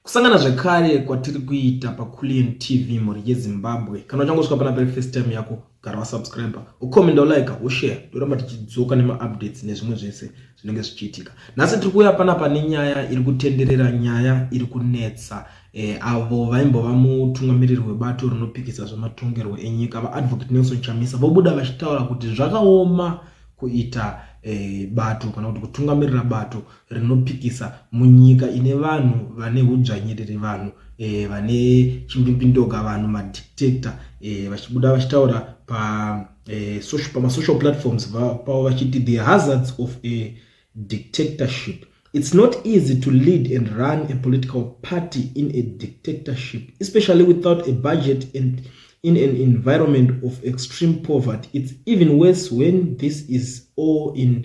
Kusangana zvekare kwatiri kuita paCullion TV mhuri yeZimbabwe. Kana uchangosvika pana pari first time yako, gara wasubscriber, ucomenda, ulike, ushare, toramba tichidzoka nemaupdates nezvimwe zvese zvinenge zvichiitika. Nhasi tiri kuuya panapa nenyaya iri kutenderera, nyaya iri kunetsa eh, avo vaimbova mutungamiriri webato rinopikisa zvematongerwo enyika vaadvocate Nelson Chamisa vobuda vachitaura kuti zvakaoma kuita eh, bato kana kuti kutungamirira bato rinopikisa munyika ine vanhu vane hudzvanyiriri vanhu e, vane chimbimbindoga vanhu madictator e, eh, vachibuda vachitaura pa e, social, pamasocial platforms pavo vachiti the hazards of a dictatorship it's not easy to lead and run a political party in a dictatorship especially without a budget and in an environment of extreme poverty it's even worse when this is all in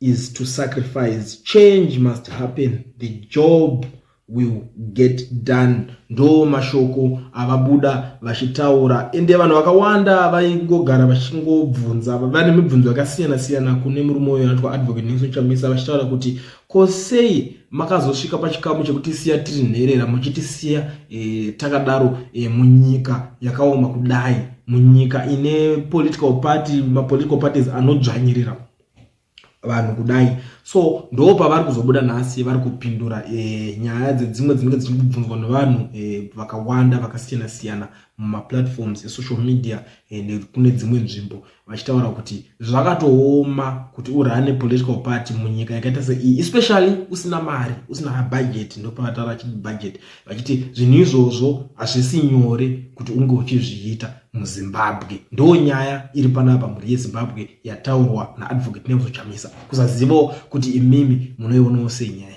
is to sacrifice change must happen the job will get done ndo mashoko avabuda vachitaura ende vanhu vakawanda vaingogara vachingobvunza vane mibvunzo yakasiyana siyana kune murume uyo anoitwa advocate nelson chamisa vachitaura kuti ko sei makazosvika pachikamu chekutisiya tiri nherera muchitisiya e, takadaro e, munyika yakaoma kudai munyika ine political party mapolitical parties anodzvanyirira vanhu kudai so ndo pavari kuzobuda nhasi vari kupindura e, nyaya dzedzimwe dzinenge dzichiri kubvunzwa nevanhu e, vakawanda vakasiyana siyana mumaplatforms esocial media e, nekune dzimwe nzvimbo vachitaura kuti zvakatooma kuti urane political party munyika yakaita seiyi especially usina mari usina budget ndopavataura chii budget vachiti zvinhu izvozvo hazvisi nyore kuti unge uchizviita muzimbabwe ndo nyaya iri panapa mhuri yezimbabwe yataurwa naadvocate nelson chamisa kusazivawo kuti imimi munoionawo sei nyaya